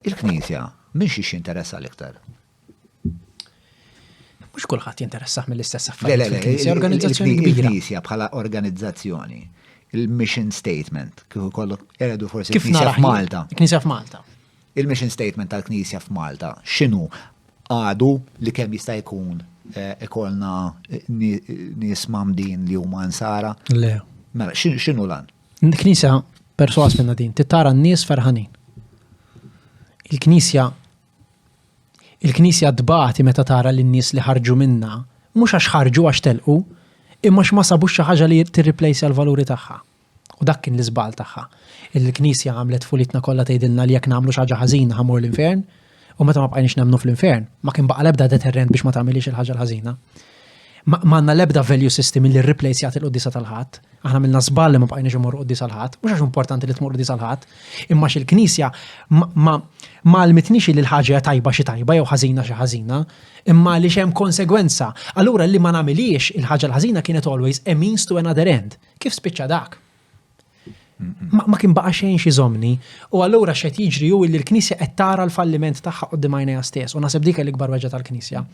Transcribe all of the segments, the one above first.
Il-Knisja, minn xiex jinteressa l-iktar? Mhux kulħadd jinteressah mill-istess affarijiet. Le, le, le, organizzazzjoni kbira. Il-Knisja bħala organizzazzjoni, il-mission statement, kif ukoll eredu forsi kif nara f'Malta. Knisja f'Malta. Il-mission statement tal-Knisja f'Malta, x'inhu għadu li kemm jista' jkun eh, ikolna eh, nies mamdin li huma nsara? Le. Mela, x'inhu lan? Il-Knisja perswas minna din, titara n-nies ferħanin. Il-Knisja il-Knisja tbati meta tara lin-nies li ħarġu minna, mhux għax ħarġu għax telqu, imma x'ma sabux xi ħaġa li tirriplejsja l-valuri tagħha. U dak kien l-iżbal tagħha. Il-Knisja għamlet fulitna kollha tgħidilna li jekk nagħmlu xi ħaġa ħażina ħamur l-infern, U meta ma bqajniex nemnu fl-infern, ma kien baqa lebda deterrent biex ma tagħmilix il-ħaġa l-ħażina. Ma għandna lebda value system li replace jagħti l-qoddisa tal-ħadd. Aħna minna żball li ma bqajniex imur qoddisa l-ħadd, mhux għax importanti li tmur qoddisa l-ħadd, imma xil-Knisja ma għalmitnix li l-ħaġa tajba xi tajba jew ħażina xi ħażina, imma li xem konsegwenza. Allura li ma nagħmilix il-ħaġa l-ħażina kienet always a means to another end. Kif spiċċa dak? Ma kien baqa' xejn xi żomni. U allura x'qed jiġri hu li l-Knisja qed tara l-falliment tagħha qudiem għajnejha stess u naħseb dik l-ikbar weġġa tal-Knisja.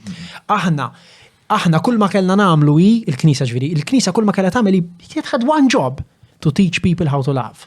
Aħna aħna kull ma kellna nagħmlu hi l-Knisja ġifieri, il-Knisja kull ma kellha tagħmel hi kienet ħadd one job to teach people how to love.